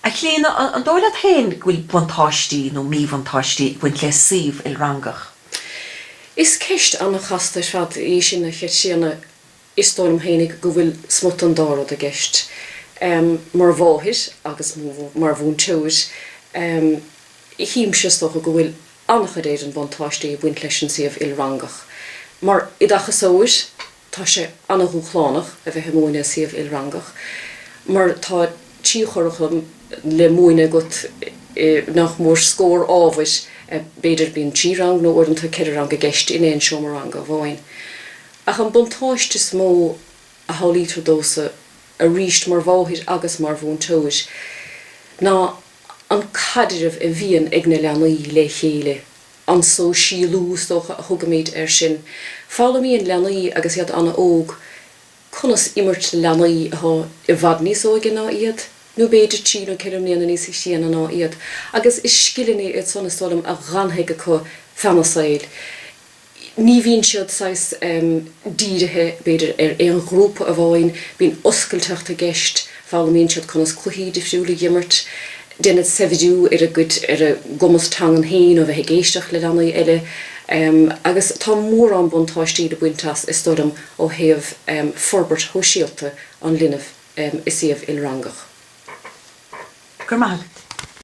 A Chlíona, an dóigh leat féin go bhfuil buntáistí nó míbhuntáistí ag baint le suíomh ilrangach? Is ceist an-chasta ar fad í sin, a Chaitríona. Is dóigh liom féin go bhfuil smut an dá rud i gceist. Mar mháthair agus mar mhúinteoir, chímse, is dócha, go bhfuil an-chuid in Éirinn buntáistí ag baint leis an suíomh ilrangach. Mar oideachasóir. Tá sé an-dhúshlánach a bheith ag múineadh suíomh ilrangach mar tá trí churaclam le múineadh agat nach mór scór ábhair, b'fhéidir. Bíonn trí rang nó uaireanta ceithre rang i gceist in aon seomra ranga amháin. Ach an buntáiste is mó a shamhlaítear domhsa, arís mar mháthair agus mar mhúinteoir, ná an caidreamh a bhíonn ag na leanaí le chéile. An sóisialú, is dócha, a thugaimid air sin. Foghlaimíonn leanaí, agus iad an-óg, conas imirt le leanaí atá i bhfad níos óige ná iad, nó b'fhéidir trí nó ceithre mbliana níos sine ná iad, agus is scileanna iad san, is dóigh liom, a dh'fhanfaidh acu feadh a saoil. Ní bhíonn siad saghas dírithe, b'fhéidir, ar aon ghrúpa amháin, bíonn oscailteacht i gceist, foghlaimíonn siad conas cluichí difriúla a dh'imirt, déanann sé saibhriú ar a gcuid, ar a gcumas teangan féin ó bheith ag éisteacht le leanaí eile agus tá mórán buntáistí le baint as, is dóigh liom, ó thaobh forbairt shóisialta an linbh i suíomh ilrangach. Go raibh maith agat.